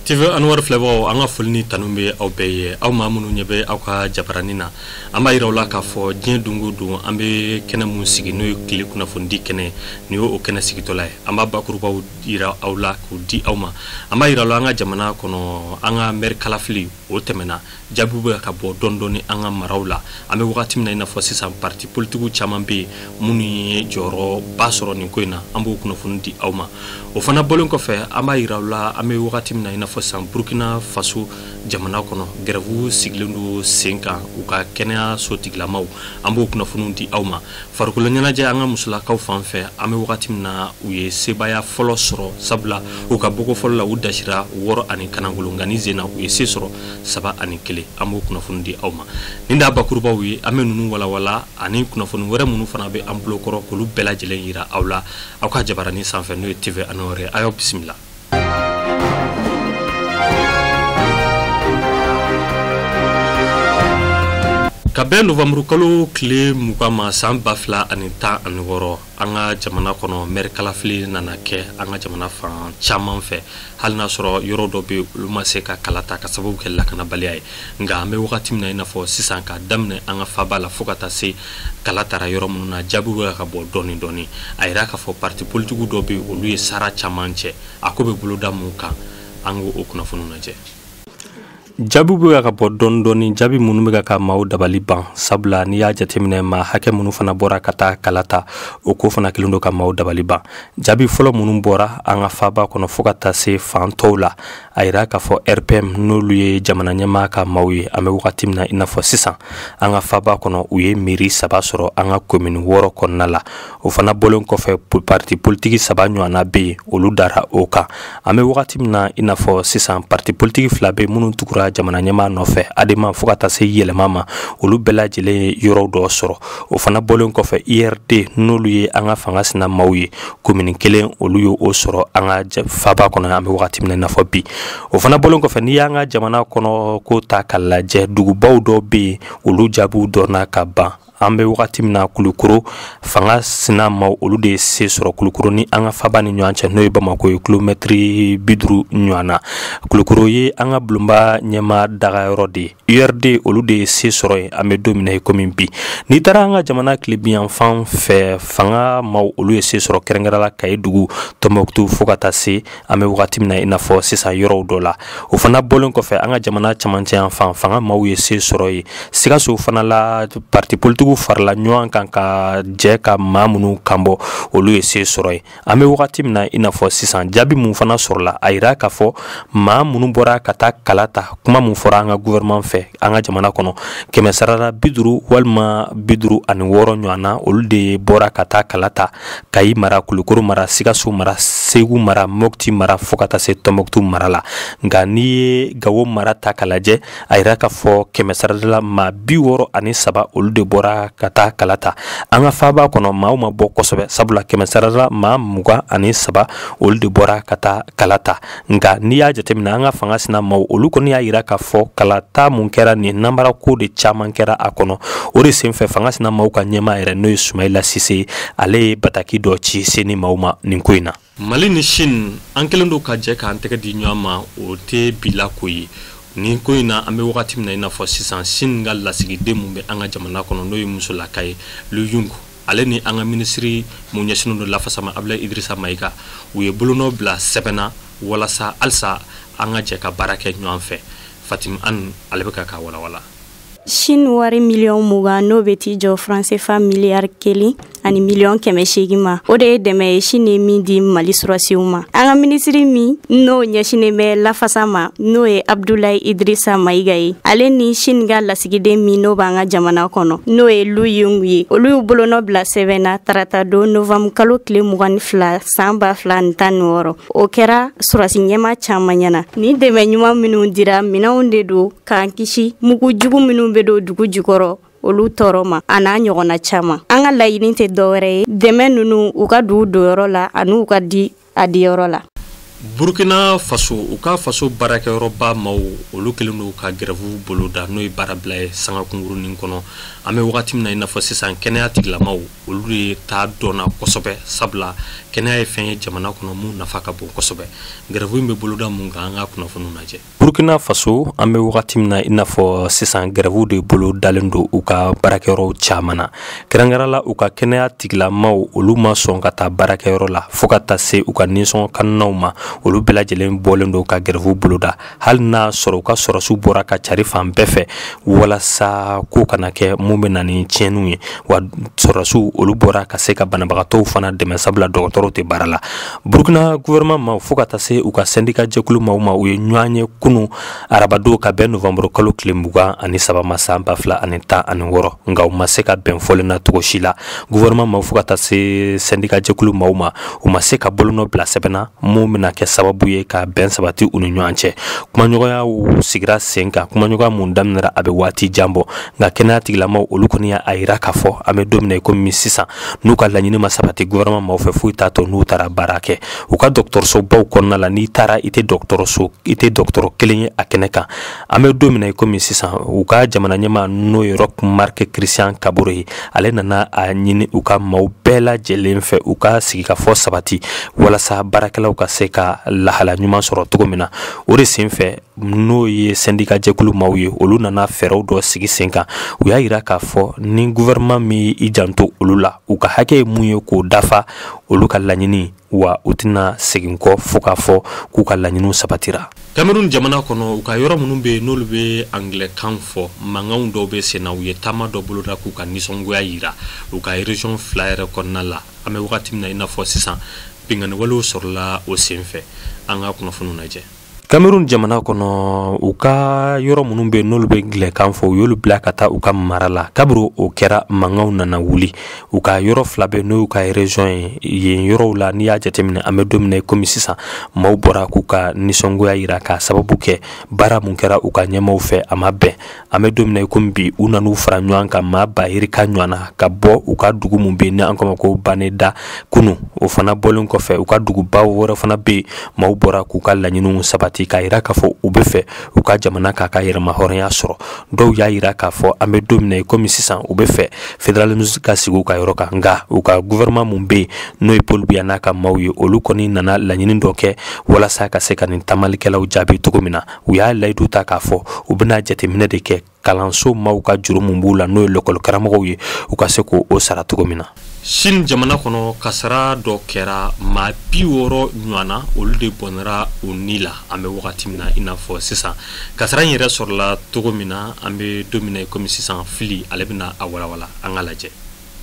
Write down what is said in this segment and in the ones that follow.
TV Anwar filɛbagaw an ka foli ni tanu bɛ aw bɛɛ ye aw maa minnu ɲɛ bɛ aw ka jabarani na an b'a yira aw la k'a fɔ diɲɛ don o don an bɛ kɛnɛ mun sigi n'o ye tile kunnafonidi kɛnɛ nin y'o kɛnɛ sigitɔla ye an b'a bakurubaw yira aw la k'u di aw ma an b'a yira aw la an ka jamana kɔnɔ an ka mɛri kalafili o tɛmɛna jaabiw bɛ ka bɔ dɔɔni dɔɔni an ka maraw la an bɛ wagati min na i n'a fɔ sisan parti politikiw caman bɛ yen minnu ye jɔyɔrɔba sɔrɔ nin ko in na an b'o kunnafoni di aw ma o fana bɔlen kɔfɛ an b'a yira aw la an bɛ wagati min na i n'a fɔ sisan burkina faso jamana kɔnɔ gɛrɛvu sigilen don sen kan u ka kɛnɛyaso tigilamaw an b'o kunnafoniw di aw ma farikolo ɲɛnajɛ an ka musolakaw fan fɛ an bɛ wagati min na u ye sebaaya fɔlɔ sɔrɔ sabula u ka bɔko fɔlɔ la u dasira wɔɔrɔ ani kanagolo nka nin sen na u ye se sɔrɔ saba ani kelen an b'o kunnafoni di aw ma nin d'a bakurubaw ye an bɛ ninnu walawala ani kunnafoni wɛrɛ minnu fana bɛ an bolo kɔrɔ k'olu bɛɛ lajɛlen yira aw la aw ka jabarani sanfɛ n'o ye TV Anwar a y'aw bisimila ka bɛn novanburukalo tile mugan ma san ba fila ani tan ani wɔɔrɔ an ka jamana kɔnɔ mɛri kalafili nana kɛ an ka jamana fan caman fɛ hali n'a sɔrɔ yɔrɔw dɔ bɛ olu ma se ka kala ta ka sababu kɛ lakanabaliya ye nka an bɛ wagati min na i n'a fɔ sisan k'a daminɛ an ka faba la fo ka taa se kala tara yɔrɔ minnu na jaabiw bɛ ka bɔ dɔɔni dɔɔni a yira k'a fɔ parti politikiw dɔ bɛ olu ye sara caman cɛ a ko bɛ boloda mun kan an k'o o kunnafoniw lajɛ jaabiw bɛ ka ka bɔ dɔɔni dɔɔni jaabi minnu bɛ ka ka maaw dabali ban sabula n'i y'a jateminɛ maa hakɛ minnu fana bɔra ka taa kala ta o ko fana kelen don ka maaw dabali ban jaabi fɔlɔ minnu bɔra an ka faaba kɔnɔ fo ka taa se fan tɔw la a yira k'a fɔ rpm n'olu ye jamana ɲɛmaa ka maaw ye an bɛ wagati min na i n'a fɔ sisan an ka faaba kɔnɔ u ye mɛri saba sɔrɔ an ka komini wɔɔrɔ kɔnɔna la o fana bɔlen kɔfɛ parti politiki saba ɲɔgɔnna bɛ yen olu dara o kan an bɛ wagati min na i n'a fɔ sisan parti politiki fila bɛ minnu tugura jamana ɲɛmaa nɔfɛ adema fo ka taa se yɛlɛma ma olu bɛɛ lajɛlen ye yɔrɔw dɔ sɔrɔ o fana bɔlen kɔfɛ urd n'olu ye an ka fanga sina maaw ye komini kelen olu ye o sɔrɔ an ka faba kɔnɔ an bɛ wagati min na i n'a fɔ bi o fana bɔlen kɔfɛ n'i y'an ka jamana kɔnɔ ko ta ka lajɛ dugubaw dɔw bɛ yen olu jaabiw dɔnna ka ban an bɛ wagati min na kulukoro fanga sina maaw olu de ye se sɔrɔ kulukoro ni an ka faba ni ɲɔgɔn cɛ n'o ye bamako ye kilomɛtiri bi duuru ɲɔgɔn na kulukoro ye an ka bulonba ɲɛmaa dagayɔrɔ de ye urd olu de ye se sɔrɔ yen an bɛ don min na i komi bi n'i taara an ka jamana tilebinyanfan fɛ fanga maaw olu ye se sɔrɔ kɛrɛnkɛrɛn la kayi dugu tɔnbɔkutu fo ka taa se an bɛ wagati min na i n'a fɔ sisan yɔrɔw dɔ la o fana bɔlen kɔfɛ an ka jamana camancɛ yan fan fanga maaw ye se sɔrɔ ye sikaso fana la parti politigiw farala ɲɔgɔn kan ka jɛ ka maa minnu kanbɔ olu ye se sɔrɔ ye an bɛ wagati min na i n'a fɔ sisan jaabi mun fana sɔrɔla a yira k'a fɔ maa minnu bɔra ka taa kala ta kuma mun fɔra an ka gouvernement fɛ an ka jamana kɔnɔ kɛmɛ sarara bi duuru walima bi duuru ani wɔɔrɔ ɲɔgɔn na olu de bɔra ka taa kala ta kayi mara kulukoro mara sikaso mara segu mara mɔkti mara fɔɔ ka taa se tɔnbɔktu mara la nka n'i ye gawo mara ta ka lajɛ a yira k'a fɔ kɛmɛ sarada la maa bi wɔɔrɔ ani saba olu de bɔra ka taa kala ta an ka faaba kɔnɔ maaw ma bɔ kosɛbɛ sabula kɛmɛ sarada la maa mugan ani saba olu de bɔra ka taa kala ta nka n'i y'a jateminɛ an ka fanga sina maw olu kɔni y'a yira k'a fɔ kalata mun kɛra nin nanbara ko de caman kɛra a kɔnɔ o de senfɛ fanga sina maw ka ɲɛmaa yɛrɛ n'o ye sumayila sise ale ye bataki dɔ ci seni maw ma nin ko in na mali ni Chine an kelen don ka jɛ k'an tɛgɛ di ɲɔgɔn ma o tɛ bi la ko ye nin ko in na an bɛ wagati min na i n'a fɔ sisan Chine ka lasigiden mun bɛ an ka jamana kɔnɔ n'o ye musolaka ye lu yungu ale ni an ka minisiri mun ɲɛsinnen don lafasa ma Abdoulaye Idrissa Maïga u ye bolonɔ bila sɛbɛn na walasa halisa an ka jɛ ka baara kɛ ɲɔgɔn fɛ fatim an ale bɛ ka k'a walawala Chine wari miliyɔn mugan n'o bɛ t'i jɔ fransefa miliyari kelen ani miliyɔn kɛmɛ seegin ma o de ye dɛmɛ ye Chine ye min di Mali sɔrɔsiw ma an ka minisiri min n'o ɲɛsinnen bɛ lafasa ma n'o ye Abdoulaye Idrissa Maïga ye ale ni Chine ka lasi lasigiden min n'o b'an ka jamana kɔnɔ n'o ye lu yengu ye olu y'u bolonɔ bila sɛbɛn na tarata don novanbu kalo kile mugan ni fila san ba fila ni tan ni wɔɔrɔ o kɛra surasi ɲɛmaa caaman ɲɛna ni dɛmɛ ɲuman minw dira minɛnw de don k'an kisi mugu jugu minw bɛ don dugu jukɔrɔ olu tɔɔrɔ ma a n'a ɲɔgɔnna caaman an ka laɲini tɛ dɔwɛrɛ ye dɛmɛ nunu u ka don u donyɔrɔ la an'u ka di a diyɔrɔ la burkina faso u ka faso baarakɛyɔrɔba maw olu kelen don ka gɛrɛfu boloda n'o ye baarabila ye sanga kunkurunin kɔnɔ an bɛ wagati min na i n'a fɔ sisan kɛnɛya tigilamaw olu de ta dɔnna kosɛbɛ sabula kɛnɛya ye fɛn ye jamana kɔnɔ mun nafa ka bon kosɛbɛ gɛrɛfu in bɛ boloda mun kan an ka kunnafoniw lajɛ burkina faso an bɛ wagati min na i n'a fɔ sisan gɛrɛfu de bolo dalen don u ka baarakɛyɔrɔw caman na kɛrɛnkɛrɛn la u ka kɛnɛya tigilamaw olu ma sɔn ka taa baarakɛyɔrɔ la fɔɔ ka taa se u ka ninsɔngɔ kannaw ma olu bɛɛ lajɛlen bɔlen don ka gɛrɛfu boloda hali n'a sɔrɔ u ka sɔrɔsiw bɔra ka cari fan bɛɛ fɛ walasa ko kana kɛ mun bɛ na ni tiɲɛniw ye wa sɔrɔsiw olu bɔra ka se ka banabagatɔw fana dɛmɛ sabula dɔgɔtɔrɔw tɛ baara la burukina guwɛrɛman maw fo ka taa se u ka sɛndika jɛkulu maw ma u ye ɲɔgɔn ye kunu arabadon ka bɛn novanburu kalo tile mugan ani saba ma san ba fila ani tan ani wɔɔrɔ nka u ma se ka bɛn fɔlen na cogo si la guwɛrɛman maw fo ka taa se sɛndika jɛkulu maw ma u ma se ka bolonɔ bila sɛbɛn na mun bɛna kɛ sababu ye ka bɛn sabati u ni ɲɔgɔn cɛ kumaɲɔgɔnya sigira sen kan kumaɲɔgɔnya mun daminɛra a bɛ waati jan bɔ nka kɛnɛya tigilamaw olu kɔni y'a yira k'a fɔ an bɛ don min na i komi sisan n'u ka laɲini ma sabati gouvernement maw fɛ foyi t'a to n'u taara baara kɛ u ka dɔgɔtɔrɔsobaw kɔnɔna la n'i taara i tɛ dɔgɔtɔrɔ kelen ye a kɛnɛ kan an bɛ don min na i komi sisan u ka jamana ɲɛmaa n'o ye roch marc christian kaboré ye ale nana a ɲini u ka maw bɛɛ lajɛlen fɛ u ka sigikafɔ sabati walasa baarakɛlaw ka se ka lahala ɲuman sɔrɔ cogo min na o de sen fɛ n'o ye sɛndika jɛkulu maw ye olu nana fɛɛrɛw dɔ sigi sen kan u y'a yira k'a fɔ ni guvɛrɛnman m'i janto olu la u ka hakɛ ye mun ye k'o dafa olu ka laɲini wa u tɛna segin kɔ fo k'a fɔ k'u ka laɲiniw sabatira kamerun jamana kɔnɔ u ka yɔrɔ minnu bɛ yen n'olu bɛ angilɛkan fɔ mankanw dɔw bɛ senna u ye taama dɔ boloda k'u ka nisɔngoya yira u ka erezɔn fila yɛrɛ kɔnɔna la an bɛ wagati min na i n'a fɔ sisan binkanniwalew sɔrɔla o senfɛ an ka kunnafoniw lajɛ cameroun jamana kɔnɔ u ka yɔrɔ minnu bɛ n'olu bɛ angilɛkan fɔ u y'olu bila ka taa u ka mara la kabiri o kɛra mankanw nana wuli u ka yɔrɔ fila bɛ n'o y'u ka région ye yen yɔrɔw la n'i y'a jateminɛ an bɛ don min na komi sisan maaw bɔra k'u ka nisɔngoya yira k'a sababu kɛ baara mun kɛra u ka ɲɛmaaw fɛ a ma bɛn an bɛ don min na i komi bi u nan'u fara ɲɔgɔn kan maa bayirika ɲɔgɔn na ka bɔ u ka dugu min bɛ yen ni an k'o ma ko bamenda kunu o fana bɔlen kɔfɛ u ka dugubaw wɛrɛ fana bɛ yen maaw bɔra k'u ka laɲiniw sabati k'a yira k'a fɔ u bɛ fɛ u ka jamana k'a ka yɛrɛmahɔrɔnya sɔrɔ dɔw y'a yira k'a fɔ an bɛ don min na i komi sisan u bɛ fɛ fédéralisme ka sigi u ka yɔrɔ kan nka u ka gouvernement min bɛ yen n'o ye paul biya n'a ka maaw ye olu kɔni nana laɲini dɔ kɛ walasa ka se ka nin taamalikɛlaw jaabi cogo min na u y'a layidu ta k'a fɔ u bɛna jateminɛ de kɛ kalanso maw ka juru min b'u la n'o ye lɔkɔli karamɔgɔw ye u ka se k'o sara cogo min na chine jamana kɔnɔ kasara dɔ kɛra maa bi wɔɔrɔ ɲɔgɔnna olu de bɔnɛra u ni la an bɛ wagati min na i n'a fɔ sisan kasara in yɛrɛ sɔrɔla cogo min na an bɛ don min na komi sisan fili ale bɛna a walawala an ka lajɛ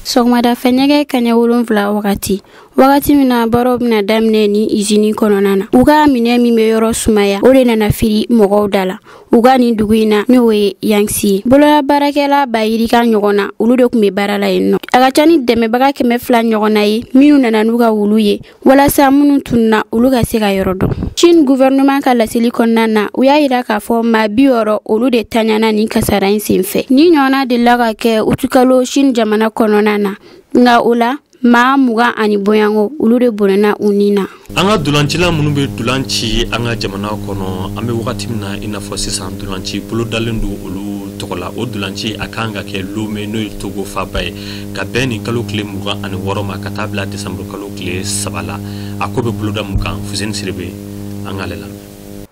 sɔgɔmada fɛ nɛgɛ kanɲɛ wolonwula wagati wagati min na baaraw bɛna daminɛ nin izini kɔnɔna na u ka minɛn min bɛ yɔrɔ sumaya o de nana firi mɔgɔw da la u ka nin dugu in na n'o ye yangsi ye bolola baarakɛla bayirika ɲɔgɔn na olu de tun bɛ baara la yen nɔ a ka ca ni dɛmɛbaga kɛmɛ fila ɲɔgɔn na ye minnu nana n'u ka wulu ye walasa minnu tununa olu ka se ka yɔrɔ dɔn chine guvɛrɛnɛman ka laseli kɔnɔna na u y'a yira k'a fɔ maa bi wɔɔrɔ olu de taɲana nin kasara in senfɛ nin ɲɔgɔnna delila ka kɛ utikalo chine jamana kɔnɔna na nka o la maa mugan ani boyanko olu de bɔnɛna u ni na an ka dolancila minnu bɛ dolan ci an ka jamana kɔnɔ an bɛ wagati min na i n'a fɔ sisan dolanci bolodalen don olu tɔgɔ la o dolanci a kan ka kɛ lome n'o ye togo faba ye ka bɛn nin kalo tile mugan ani wɔɔrɔ ma ka taa bila desanburukalo tile saba la a ko bɛ boloda mun kan fuseni sidibe an k'ale lamɛn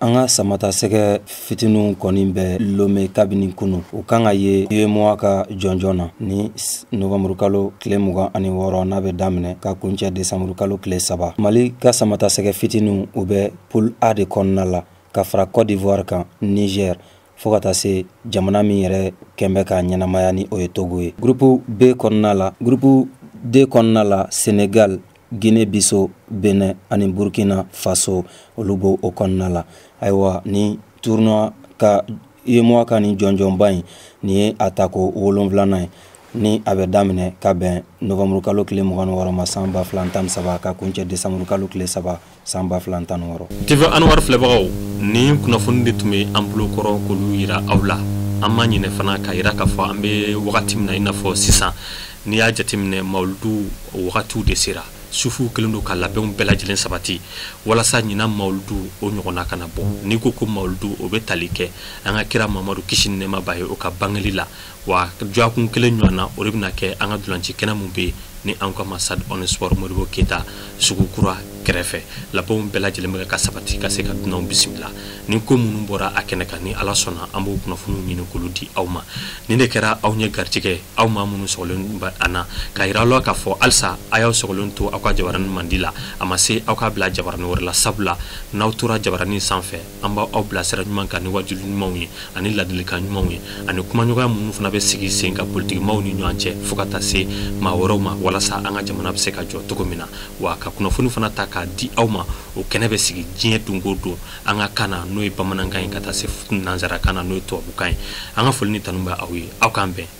an ka samatasɛgɛ fitininw kɔni bɛ lome kabini kunu u kan ka ye uemoa ka jɔnjɔn na ni novanburukalo tile mugan ani wɔɔrɔ n'a bɛ daminɛ ka kuncɛ desanburukalo tile saba mali ka samatasɛgɛ fitininw u bɛ poule a de kɔnɔna la ka fara cote d'ivoire kan niger fo ka taa se jamana min yɛrɛ kɛnɛ bɛ ka ɲɛnamaya ni o ye togo ye gurupu b kɔnɔna la gurupu d kɔnɔna la senegal gine biso benɛn ani burkina faso olu b'o kɔnɔna la ayiwa ni tournoi ka uemoa ka nin jɔnjɔnba in nin ye a tako wolonwulanan ye ni a bɛ daminɛ ka bɛn novanburukalo tile mugan ni wɔɔrɔ ma san ba fila tan ni saba ka kuncɛ desanburukalo tile saba san ba fila tan wɔɔrɔ tv anwar filɛbagaw nin kunnafoni de tun bɛ an bolo kɔrɔ k'olu yira aw la an ma ɲinɛ fana k'a yira k'a fɔ an bɛ wagati min na i n'a fɔ sisan n'i y'a jateminɛ mawuludu wagatiw de sera sufuw kɛlen don ka labɛnw bɛɛ lajɛlen sabati walasa ɲinan mawuludu o ɲɔgɔnna kana bɔ n'i ko ko mawuludu o bɛ tali kɛ an ka kira mamadu kisi ni nɛɛma b'a ye o ka bangeli la wa dɔgɔkun kelen ɲɔgɔnna o de bɛna kɛ an ka dolanci kɛnɛ min bɛ yen ni an k'a ma stade omnisport modibo keyita sugu kura kɛrɛfɛ labɛnw bɛɛ lajɛlen bɛ ka sabati ka se ka dunanw bisimila ni ko minnu bɔra a kɛnɛ kan ni ala sɔnna an b'o kunnafoniw ɲini k'olu di aw ma nin de kɛra aw ɲɛ garijɛgɛ aw maa minnu sɔgɔlen bɛ an na k'a yira aw la k'a fɔ halisa a y'aw sɔgɔlen to aw ka jabaranin mandi la a ma se aw k'a bila jabaranin wɛrɛ la sabula n'aw tora jabaranin sanfɛ an b'aw bila sira ɲuman kan ni waajuli ɲumanw ye ani ladilikan ɲumanw ye ani kumaɲɔgɔnya minnu fana bɛ sigi sen kan politikimaw ni ɲɔgɔn cɛ fo ka taa se maa wɛrɛw ma walasa an ka jamana bɛ se ka jɔ cogo min na wa ka kunnafoni fana ta k'a di aw ma o kɛnɛ bɛ sigi diɲɛ don o don an ka kan na n'o ye bamanankan ye ka taa se nansarakan na n'o ye tubabukan ye an ka foli ni tanu bɛ aw ye aw k'an bɛn